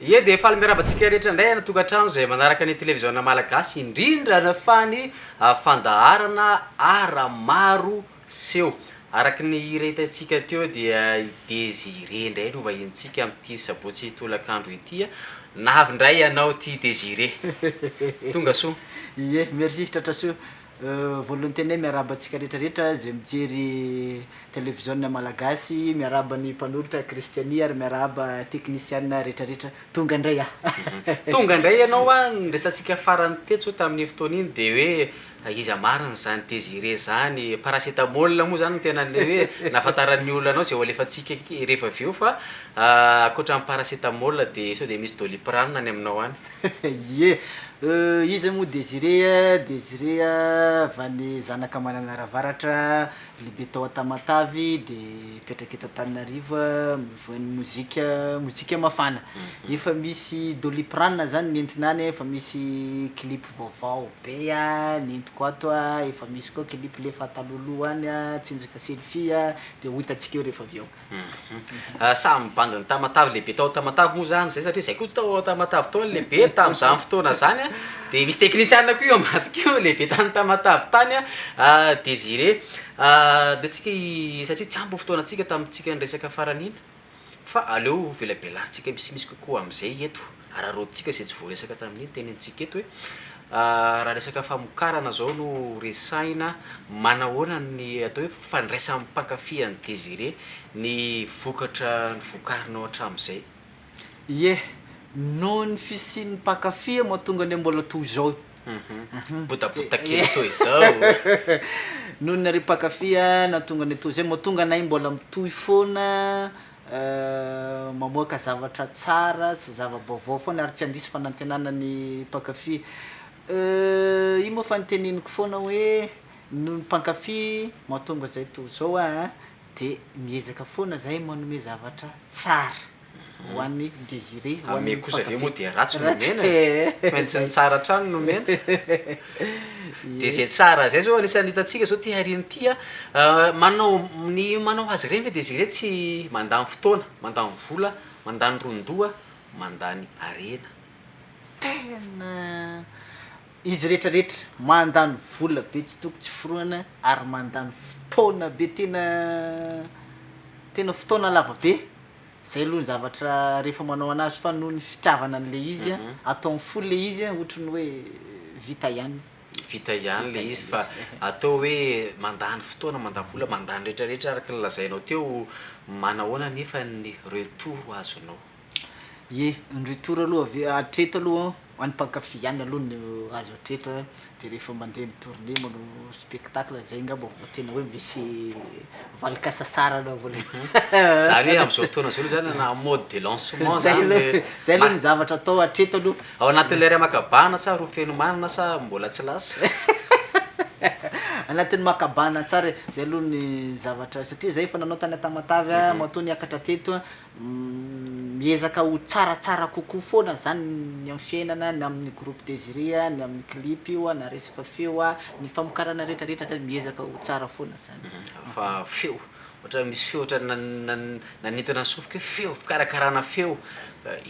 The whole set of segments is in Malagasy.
Ie dia faly miarahaba antsika rehetra indray any an-tokantrano izay manaraka ny televiziona malagasy, indrindra fa ny fandaharana ara-maro Seho. Araka ny hira hitantsika teo dia i Désiré indray no vahinintsika amin'ity sabotsy tolakandro ity a! Navy indray ianao ity Désiré. Tonga soa. Ie, merci Tratrasoa. Voalohan'ny teny hoe miarahaba antsika rehetra rehetra izay mijery televiziona malagasy, miarahaba ny mpanolotra Christianie ary miarahaba teknisiana rehetra rehetra. Tonga indray aho. Tonga indray ianao a! Ny resatsika farany tetsy oa tamin'iny fotoana iny dia hoe Fa iza marina zany Désiré zany e? Paracetamol moa zany no tena le hoe nahafantaran'ny olona anao zay ho alefantsika rehefa avy eo fa ankoatra ny paracetamol de sao de misy doliprane any aminao any? Ie, euh iza moa Désiré a? Désiré a avy any zanaka Mananaravaratra, lehibe tao Antamatavy de mipetraka eto Antananarivo a, mivohay ny mozika, mozika mafana. Efa misy doliprane zany nentina any efa misy clip. Vaovao be a, nentiko ato a, efa misy koa clip lefa taloha loha any a, tsinjaka selfie a, de ho hitantsika eo refa avy eo. Hum samy ny bandy ny Tamatave lehibe tao Tamatave moa zany zay satria zay koa tao Tamatave tao ny lehibe tamzany fotoana zany a de misy teknisiana koa eo ambadika eo lehibe tany Tamatave tany a Desiré a de tsika satria tsy ampy ny fotoana tsika tamitsika niresaka farany iny. Fa aleo velabelarintsika misimisy kokoa amin'izay eto, araraotintsika izay tsy voaresaka tamin'iny tenenintsika eto hoe raha resaka famokarana izao no resahina, manahoana ny atao hoe fandraisan'ny mpankafy an'i Désiré ny vokatra novokarinao hatramin'izay? Ie, noho ny fisian'ny mpankafy mahatonga anay mbola toy izao. Botabota kely toy izao. Noho ny ry mpankafy a nahatonga anay toy izay, mahatonga anay mbola mitohy foana mamoaka zavatra tsara sy zava-baovao foana ary tsy handiso fanantenana ny mpankafy. Ino moa fa ny teneniko foana hoe noho ny mpankafy mahatonga izay toy izao aho a. De miezaka foana zahay manome zavatra tsara ho an'i Désiré, ho an'ny mpankafy. Amy kosa ve moa dia ratsy no omena e? Tsy maintsy ny tsara hatrany no omena. Dia izay tsara izay izao anisan'ny hitantsika izao ity hariana ity a. Manao, ny manao azy ireny ve Désiré tsy mandany fotoana, mandany vola, mandany ron-doha, mandany harena? Tena. Izy rehetra rehetra mandany vola be tsy toko tsy forohana ary mandany fotoana be tena tena fotoana lava be zay aloha ny zavatra rehefa manao anazy fa noho ny fitiavana an'le izy an ataony fo le izy an ohatry ny hoe vita ihany vita ihany le izy fa atao hoe mandany fotoana mandany vola mandany rehetra rehetra araka ny lazainao teo manahoana anefa ny retour azonao? Ye, ny retour aloha ave hatreto aloha any mpankafy ihany aloha no azo hatreto a, de rehefa mandeha ny tournée manao spectacle zay ngamba vao tena hoe misy valin-kasasarana vao le Zany hoe am'zao fotoana zao aloha zany na en mode de lancement Zay zany aloha, le zay aloha ma- ny zavatra atao hatreto aloha. Ao anatin'ilay iray maka bahana sa roa feno manana sa mbola tsy lasa? Anatin'ny maka bahana tsara e, zay aloha ny zavatra satria zay efa nanao tany Tamatave a, matoa niakatra teto a. Miezaka ho tsaratsara kokoa foana zany ny amin'ny fiainana, ny amin'ny groupe Désiré, ny amin'ny clip io na resaka feo, ny famokarana retraretra zany miezaka ho tsara foana zany. Fa feo, ohatra hoe misy feo ohatran'ny nanintona ny sofiko hoe feo, fikarakarana feo,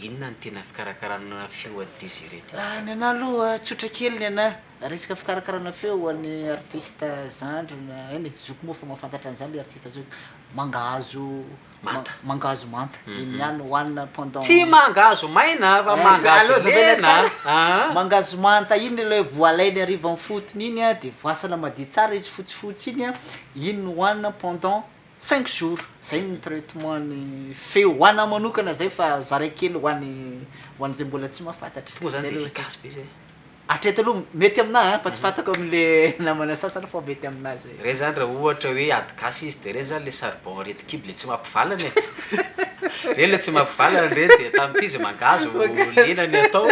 inona no tena fikarakarana feo an'i Désiré ty? Ny anah aloha tsotra kely ny anah, resaka fikarakarana feo ho an'ny artiste zandry na eny e, zokiko moa fa mahafantatra an'zany le artiste zokiko, mangahazo Manta. Mangahazo manta. Iny ihany hohanina pendant. Tsy mangahazo maina fa mangahazo lena an. Mangahazo manta iny ilay voalainy hariva ny fotony iny an, dia voasana madio tsara izy fotsifotsy iny an, iny no hohanina pendant cinq jours. Izay no traitement ny feo. Ho anà manokana izay fa zaraiko kely ho an'ny ho an'izay mbola tsy mahafantatra. Tonga izany dia efficace be izay. Hatreto aloha mety aminah an, fa tsy fantako amin'le namana sasany fa mety aminah zay. Reny zany ra ohatra hoe ady gasy izy de reny zany le charbon rety kibo le tsy mampivalana e! Reny le tsy mampivalana reny de tamin'ity izy mangahazo lena ny atao.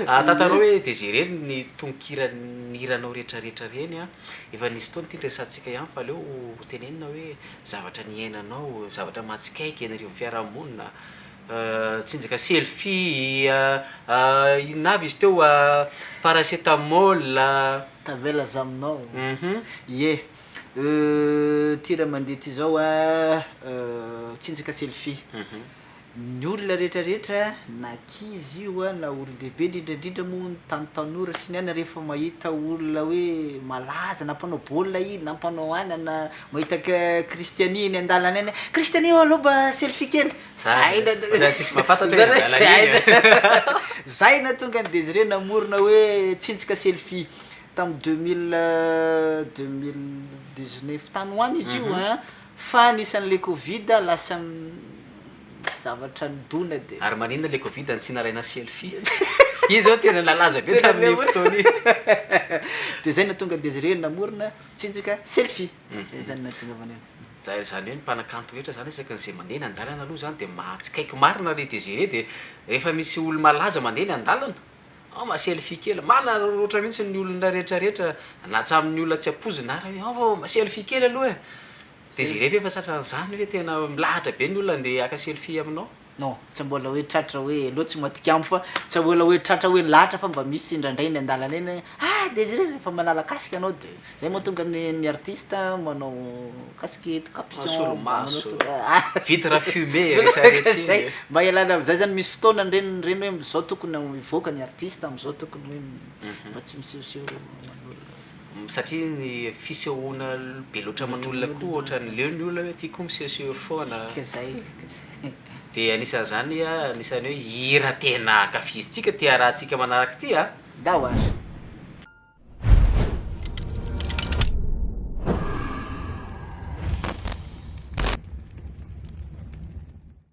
Ah tantarao hoe de zay reny ny tononkira nihiranao rehetra rehetra reny an! Efa nisy fotoana ity niresahantsika ihany fa aleo ho tenenina hoe zavatra niainanao, zavatra mahatsikaiky an'ireo fiarahamonina, tsinjaka selfie a, inona avy izy teo a, paracetamol a. Tavela za aminao ie euh ty raha mandeha ty zao a tsinjaka selfie ny olona rehetra rehetra na ankizy io a na olondehibe indrindra indrindra moa ny tany tanora sy ny ana rehefa mahita olona hoe malaza na mpanao baolina iny na mpanao anana mahita Cristiani eny an-dalana eny hoe Cristiani ô aleo mba selfie kely Zay na tonga. Ohatrany tsisy mahafantatra hoe nadala an'iny. Zay na tonga an'i Désiré namorona hoe tsinjika selfie tamin'ny deux mille deux mille dix neuf tany ho any izy io an, fa nisy an'ilay covid lasa zavatra nidona dia. Ary maninona ilay covid no tsy nalaina selfie? Iny izao tena nalaza be tamin'iny fotoana iny. Dia zay no nahatonga an'i Désiré namorona tsinjika selfie. Zay zany nahatonga avy any an. Zay zany hoe ny mpanakanto rehetra zany isaky ny ze mandeha eny andalana aloha zany de mahatsikaiky marina re de ze re de rehefa misy olo malaza mandeha eny andalana ao ma selfie kely manararaotra mintsy ny olona rehetra rehetra na hatramin'ny olona tsy ampoizina ary ao fa ma selfie kely aloha e de ze rehefa efa tratran'zany hoe tena milahatra be ny olona andeha haka selfie aminao Non, tsy mbola hoe tratra hoe Hello tsy matikambo fa tsy mbola hoe tratra hoe lahatra fa mba misy indraindray eny an-dalana eny hoe ah Désiré rehefa manala casque ianao dia izay mahatonga ny ny artiste manao casque eto capuchon Solomaso, vitre fumée rehetra rehetra iny e! Mba ialana amin'izay izany misy fotoana ireny ireny hoe izao tokony hivoaka ny artiste amin'izao tokony hoe mba tsy misehoseho aman'olona. satria ny fisehoana be loatra aman'olona koa ohatran'ny leo ny olona hoe aty koa misehoseho foana dia anisan'izany anisan'ny hoe hira tena ankafizintsika ty arahantsika manaraka ity a Ndao ary.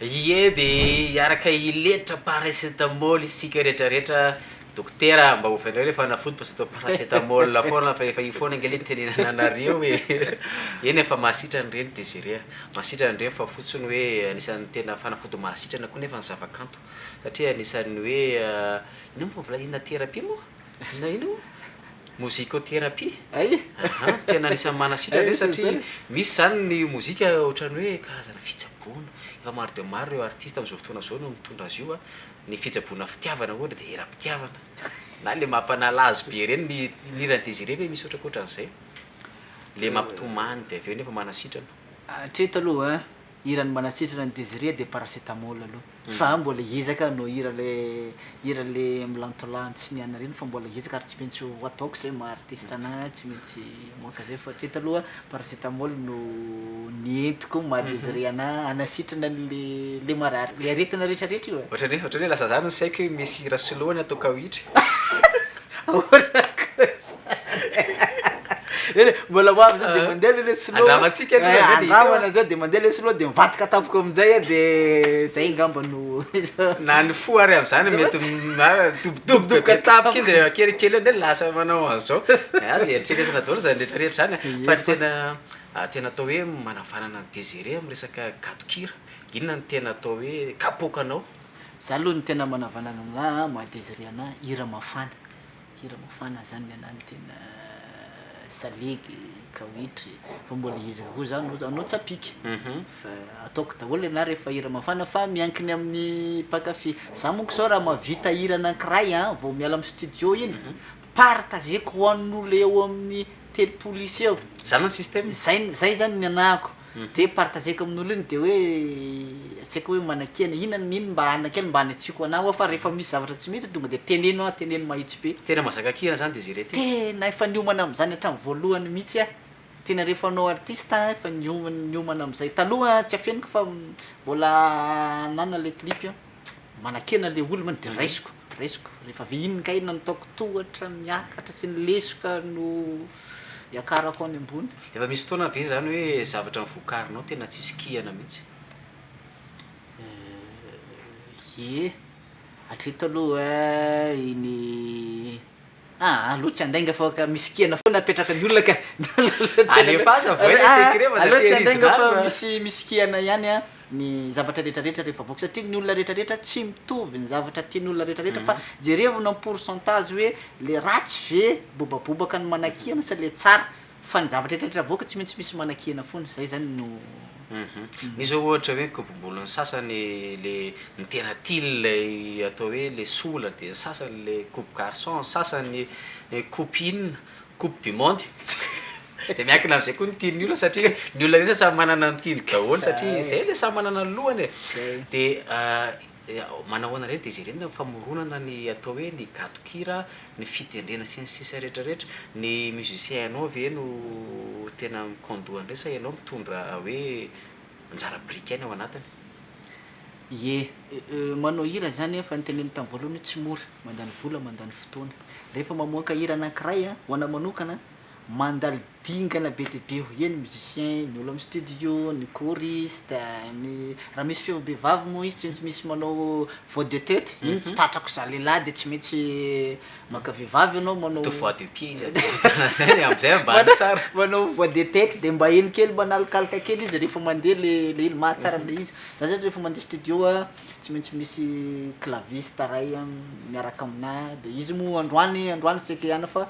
Ie dia hiaraka hiletra paracetamol isika rehetra rehetra Dokotera mba oviana hoe le fanafody fa zato paracetamol foana fa efa io foana ange le tenenana anareo e Eny e fa mahasitrana ireny Desirée a, mahasitrana ireny fa fotsiny hoe anisan'ny tena fanafody mahasitrana koa nefa ny zavakanto satria anisan'ny hoe inona moa vao volazany inona thérapie moa? Na inona moa? Mozikoterapia? Hay e! Aha, tena anisan'ny manasitrana ve satria misy izany ny mozika ohatran'ny hoe karazana fitsaboana, efa maro dia maro ireo artista amin'izao fotoana izao no mitondra azy io a, ny fitsaboana fitiavana ohatra dia eram-pitiavana, na ilay mampanala azy be ireny ny hiran'i Désiré ve misy ohatrankoatran'izay? Ilay mampitomany dia avy eo nefa manasitrana. Hatreto aloha. Hira ny manatsitsona an'i Desirée dia paracetamol aloha fa aho mbola hiezaka hanao hira ilay hira ilay milantolano tsy niany ireny fa mbola hiezaka ary tsy maintsy ho ataoko izay maha artiste anahy tsy maintsy mamoaka izay fa hatreto aloha paracetamol no ny entiko maha Desirée anahy hanasitrana an'ilay ilay marary ilay aretina rehetrarehetra io e. Ohatran'ny hoe ohatran'ny hoe lasa zany ny saiko hoe misy hira soloina tokao hitra e. Ahoana kosa Eny mbola ho avy zao de mandeha aloha le sinoa a. Andramantsika aloha Eh, zany e. andramana zao de mandeha le sinoa de mivadika tampoka amin'jay a de zay angamba no Na ny fo ary am'zany mety m- a- midobodoboka be tampoka iny rehefa kelikely eo ndray lasa manao an'zao. Eh, azo eritreretina daholo zany rehetrarehetra zany a. Fa ny tena a tena atao hoe manavanana an'i Desiré am'resaka gadon-kira, inona no tena atao hoe kapoka anao? Za aloha no tena manavanana anah a, maha desire anah hira mafana, hira mafana zany ny anah no tena salegy, kawitry, fa mbola izy kokoa za no anao tsy ampiko, fa ataoko daholo ny anah rehefa hira mafana fa miankina amin'ny mpankafy, za monko zao raha mahavita hira anankiray a, vao miala amin'ny studio iny, partageko ho an'olona eo amin'ny telopolo isa eo, Zany ny système? zay zany ny anahako, Dia partageko amin'olo iny dia hoe tsy aiko hoe manakia na inona na inona mba hanina kely mba hanitsiako anah hoa fa rehefa misy zavatra tsy mety tonga dia teneno hoa teneno mahitsy be. Tena mazaka kihina zany Desirée ty. Tena efa niomana amin'izany hatramin'ny voalohany mihitsy aho. Tena rehefa hanao artiste aho efa niomana amin'izay. Taloha tsy afeniko fa mbola ananana ilay clip. Manakena le olona mantsy de raisiko raisiko rehefa avy iny kay nataoko tohatra miakatra sy ny lesoka no iakarako any ambony. Efa misy fotoana ve zany hoe zavatra novokarinao tena tsisy kihana mihitsy? Ye, hatreto aloha iny. Ah alou tsy andainga fa ka misy kena foana apetrakan'ny olona ka Alefaso voay le secret fa alou tsy andainga fa misy misy kena ihany an ny zavatra rehetra rehetra rehefa avoaka satria ny olona rehetra rehetra tsy mitovy ny zavatra tian'ny olona rehetra rehetra fa jerevina en pourcentage hoe le ratsy ve bobabobaka no manakihana sa le tsara Fa ny zavatra eritreretra avoaka tsy maintsy misy manakihana foana, izay izany no. Misy zao ohatra hoe kobobolon'ny sasany le ny tena tiany ilay atao hoe le sola dia ny sasany le coupe garçon, ny sasany coupe inona, coupe du monde dia miankina amin'izay koa ny tian'ny olona satria ny olona rehetra samy manana ny tiany daholo satria izay ilay samy manana ny lohany e! dia Dia manao ahoana re ry Désirée ny famoronana ny atao hoe ny gadon-kira, ny fitendrena sy ny sisa rehetra rehetra. Ny musiciens anao ve no tena mi-conduit an'ireny sa ianao mitondra hoe anjara biriky ihany ao anatiny? Ie, euh, manao hira zany an, efa noteneniko tamin'ny voalohany hoe tsy mora, mandany vola, mandany fotoana. Rehefa mamoaka hira anankiray an, ho anao manokana an, Mandalo dingana be dia be eo eny musiciens, ny olo am studio, ny choriste, ny raha misy feo bevava moa izy tsy maintsy misy manao voix de tete, iny tsy tratrako za lehilahy de tsy maintsy maka vehivavy enao manao Atao voix de pied izy ady Tazana zay le amzay ambany Manao tsara manao voix de tete de mba eny kely mba an'alokaloka kely izy rehefa mandeha le le ilo mahatsara an'le izy, za zany rehefa mandeha studio a tsy maintsy misy claviste ray a miaraka aminah de izy moa androany androany seke hiana fa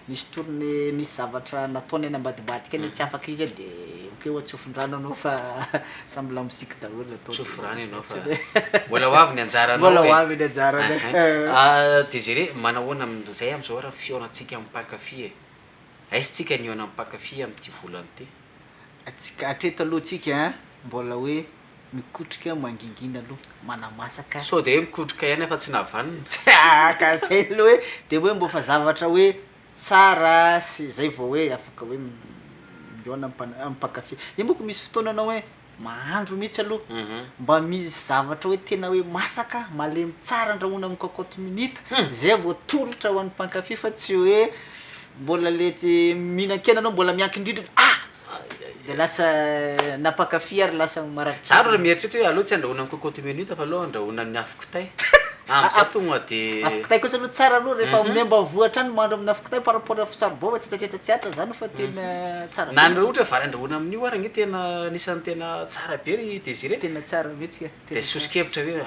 Nisy tourne nisy zavatra nataony any ambadibadika any tsy afaka izy de ok oa tsofindrano anao fa samy lamoziky daholo atao de Tsofy rano ianao fa mbola ho avy ny anjaranao e! Mbola ho avy ny anjarany e! Desire, manahoana amin'izay amin'izao ary ny fihaonantsika amin'ny mpankafy e? Aiza tsika ny hihaona amin'ny mpankafy amin'ity volana ity? Atsika hatreto aloha tsika mbola hoe. Mikotrika mangingina aloha manamasaka e! Sao dia hoe mikotrika ihany fa tsy navanona? Tsahaka zay aloha hoe dia hoe mbô fa zavatra hoe tsara sy zay vao hoe afaka hoe mihaona am- am mpankafy, io manko misy fotoana anao hoe mahandro mihitsy aloha mba misy zavatra hoe tena hoe masaka malemy tsara andrahoina am cocotte minute zay vao atolotra ho an'ny mpankafy fa tsy hoe mbola le tsy mihinan-kena anao mbola miankin-drindrina ah! De lasa nampankafy ary lasa marary tsara. Zah mieritreritra hoe aleo tsy andrahoina ny cocotte minute fa aleo andrahoina ny afo kitay. Amzay tonga de Afo kitay kosa aloha tsara aloha rehefa amin'ny ambanivoa hatrany mahandro amin'ny afo kitay par rapport afo charbon fa tsy tsaitraitra tsy atra zany fa tena tsara be. Na ny ohatra vary andrahoina amin'io ary ange tena anisan'ny tena tsara be ry Désiré. Tena tsara mihitsy ka. De soso-kevitra hoe,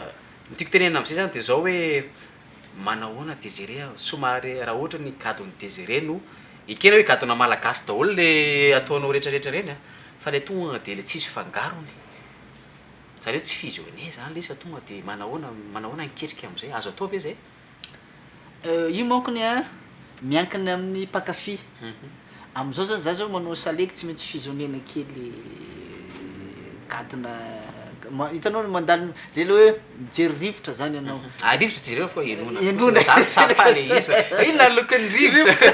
ny tiako tenenina amzay zany de zao hoe, Manahoana Desiré a! Somary raha ohatra ny gadon'i Desiré no ekena hoe gadona malagasy daholo le ataonao retraretra ireny a! fa le tonga de le tsisy fangarony, zany hoe tsy fusionner zany le izy fa tonga de manahoana, manahoana ny ketrika amzay, azo atao ve zay? Euh, io mankony an, miankina amin'ny mpankafy. Amin'izao zany za zao manao salegy tsy maintsy fizoniana kely gadona ma- hitanao le mandalo le le hoe mijery rivotra zany ianao Ah rivotra jereo fa enona Enona. fotsiny, za tsy ampy le izy fa inona ny lokon'ny rivotra?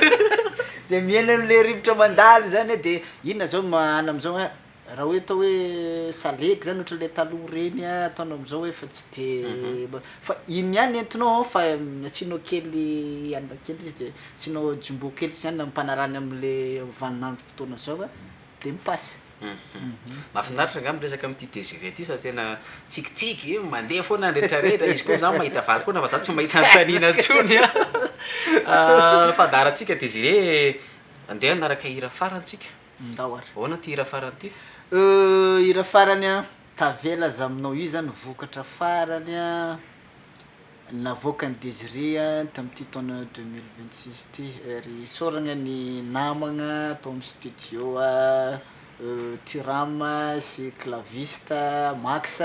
de mihaino an'le rivotra mandalo zany a de inona zao ma- anona am'zao a Raha hoe atao hoe salegy zany ohatran'ny le taloha reny a, ataonao amzao hoe efa tsy de fa iny ihany entinao an fa asianao kely anana kely izy de asianao jumbo kely zany ampanarahany amle vaninandro fotoana zao a de mi-passe. Mafinaritra nga miresaka amty Desirée ty fa tena tsikitsiky io mandeha foana ny retraretra izy ko za mahita vary foana fa za tsy mahita antanina tsony a fa daratsika Desirée andeha anaraka hira farany tsika. Ndao ary. Ahoana ty hira farany ty? Euh hira farany an! Tavela aza aminao io zany vokatra farany navoakan'i Desirée tamin'ity taona deux mille vingt six ity ary isaoragna ny namagna tao amin'ny studio Tyram sy claviste Max.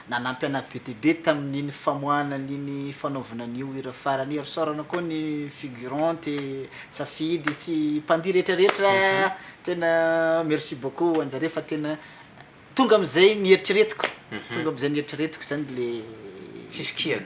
Nanampy anah be dia be tamin'iny famoahana an'iny fanaovana an'io hira farany io ary saorana koa ny figurante, safidy sy mpandihy rehetrarehetra tena merci beaucoup ho anjareo fa tena tonga amin'izay nieritreretiko tonga amin'izay nieritreretiko izany le Tsisy kiana.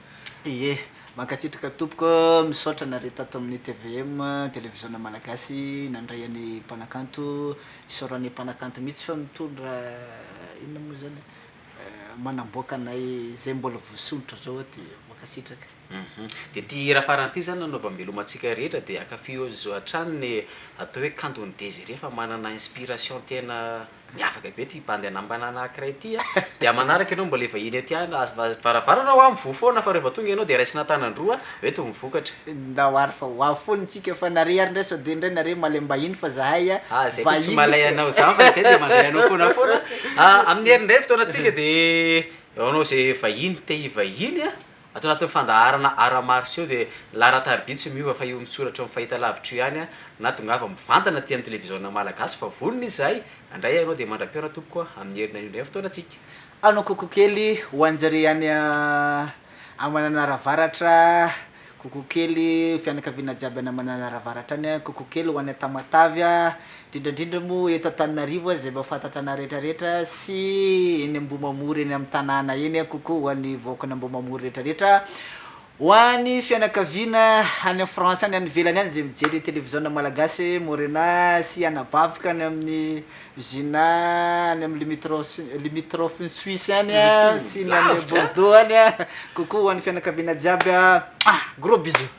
Ie, mankasitraka tompoko, misaotra nareo tato amin'ny tvm, televiziona malagasy, nandray an'i mpanakanto, isaoran'ny mpanakanto mihitsy fa mitondra inona moa izany eh, manamboaka anay izay mbola voasondrotra zao aty, mankasitraka. Hum dia ity hira farany ity izany nanaovam-beloma antsika rehetra dia ankafihozzo hatrany ny atao hoe kanton'i Désiré fa manana inspiration tena. Miavaka be ity bandy anambanana anakiray ity a! Dia manaraka ianao mbola hivahiny aty an! Aza aza varavarana hoa mivoha foana fa rehfa tonga ianao dia raisina an-tanan-droa an! Eto ny vokatra. Ndao ary fa ho avy foana isika fa nareo ary ndray sao dia ndray nareo malem-bahiny fa zahay a! Ah zay koa tsy malay anao zany fa izay dia mandray anao foana foana a! Amin'ny herin'ny iray fotoana antsika dia anao izay vahiny te hivahiny a! Ato anatin'ny fandaharana Arts martiaux io dia ny laharan-tariby tsy miova fa io mitsoratry ny fahitalavitra io ihany na tongava mivantana aty amin'ny televiziona malagasy fa vonona izahay handray ianao dia mandra-pihaona tompoko a amin'ny herinay indray ny fotoanantsika. Hanao coucou kely ho anjareo any a Mananara Avaratra coucou kely fianakaviana jiaby any Mananara Avaratra any a coucou kely ho any Tamatave a Indrindraindrindra moa eto Antananarivo aza izay mahafantatra anah rehetrarehetra sy eny Ambohimamory eny amin'ny tanàna eny, coucou ho an'ny vahoakany Ambohimamory rehetrarehetra, ho an'ny fianakaviana any France any, any ivelany any izay mijery televiziona malagasy, Morena sy anabaviko any amin'ny Gina any amin'ny limitros- limitrophe-n'i Suisse any sy ny any Bordeaux any, coucou ho an'ny fianakaviana jiaby ah! Gros bisous.